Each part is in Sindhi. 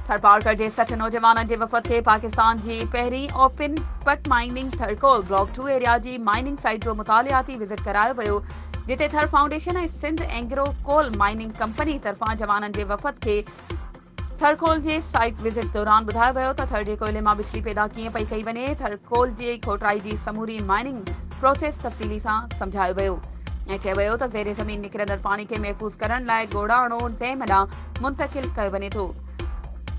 ٿرپارڪر جي سٺ نوجوانن جي وفد کي پاڪستان جي پهرين open pit mining Thar coal block two area جي مائننگ سائيٽ جو مطالعاتي وزٽ ڪرايو ويو جتي Thar foundation ۽ Sindh Engro coal mining company طرفان جوانن جي وفد کي ٿرڪول جي سائيٽ وزٽ دوران ٻڌايو ويو ته ٿر جي ڪوئلي مان بجلي پيدا ڪيئن پئي ڪئي وڃي، ٿرڪول جي کوٽرائي جي سموري مائننگ پروسيس تفصيلي سان سمجهايو ويو ۽ چيو ويو ته زير زمين نڪرندڙ پاڻي کي محفوظ ڪرڻ لاء گوڙاڻو ڊيم ڏانهن منتقل ڪيو وڃي ٿو،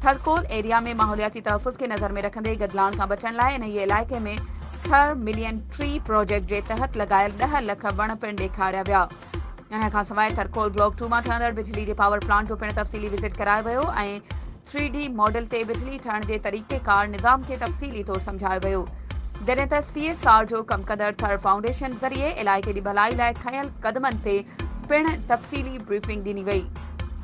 ٿرڪول ايريا ۾ ماحولياتي تحفظ کي نظر ۾ رکندي گدلاڻ کان بچڻ لاء انهيء علائقي ۾ ٿر ملين ٽري پروجيڪٽ جي تحت لڳايل ڏهه لک وڻ پڻ ڏيکاريا ويا. انهيء کان سواء ٿرڪول بلاڪ ٽو مان ٺهندڙ بجلي جي پاور پلانٽ جو پڻ تفصيلي وزٽ ڪرايو ويو ۽ ٿري ڊي ماڊل تي بجلي ٺهڻ جي طريقيڪار نظام کي تفصيلي طور سمجهايو ويو جڏهن ته سي ايس آر جو ڪم ڪندڙ ٿر فائونڊيشن ذريعي علائقي جي ڀلائي لاء کنيل قدمن تي پڻ تفصيلي بريفنگ ڏني وئي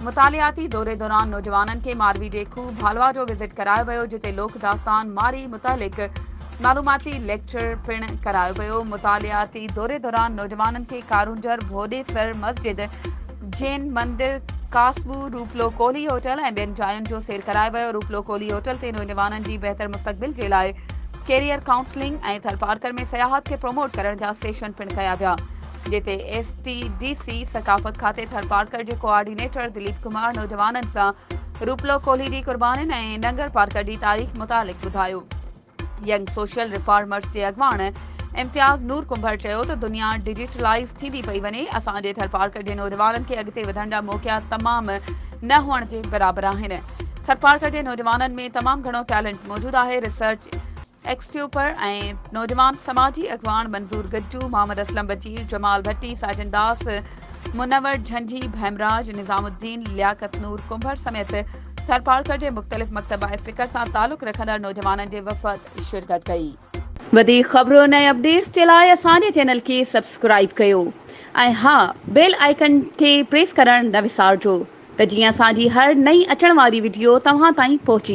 مطالعاتي دوري دوران نوجوانن کي ماروي جي کوهه ڀالوا جو وزٽ ڪرايو ويو جتي لوڪ داستان ماري متعلق معلوماتي ليڪچر پڻ ڪرايو ويو. مطالعاتي دوري دوران نوجوانن کي ڪارونجهر، ڀوڏيسر مسجد، جين مندر، ڪاسٻو، روپلو ڪولهي هوٽل ۽ ٻين جاين جو سير ڪرايو ويو. روپلو ڪولهي هوٽل تي نوجوانن جي بهتر مستقبل جي لاء ڪيريئر ڪائونسلنگ ۽ ٿرپارڪر ۾ سياحت کي پروموٽ ڪرڻ جا سيشن پڻ ڪيا ويا. جتي ايس ٽي ڊي سي ثقافت کاتي ٿرپارڪر جي ڪوآرڊينيٽر دليپ ڪمار نوجوانن سان روپلو ڪولهي جي قربانين ۽ ننگر پارڪر جي تاريخ متعلق ٻڌايو. ينگ سوشل ريفارمرز جي اڳواڻ امتياز نور ڪنڀر چيو ته دنيا ڊجيٽلائيز ٿيندي پئي وڃي، اسان جي ٿرپارڪر جي نوجوانن کي اڳتي وڌڻ جا موقعا تمام نه هئڻ جي برابر آهن، ٿرپارڪر جي نوجوانن ۾ تمام گهڻو ٽيلنٽ موجود آهي، ريسرچ ايڪسٽيوپر ۽ نوجوان سماجي اڳواڻ منظور گجو، محمد اسلم وزير، جمال ڀٽي، ساجن داس، منور جھنجھي، ڀيمراج نظام الدين، لياقت نور ڪنڀر سميت ٿرپارڪر جي مختلف مڪتب ۽ فڪر سان تعلق رکندڙ نوجوانن جي وفد شرڪت ڪئي. وڌيڪ خبرن ۽ اپڊيٽس جي لاء اسان جي چينل کي سبسڪرائيب ڪيو ۽ ها بيل آئيڪن کي پريس ڪرڻ نه وسارجو ته جيئن اسان جي هر نئين اچڻ واري وڊيو توهان تائين پهچي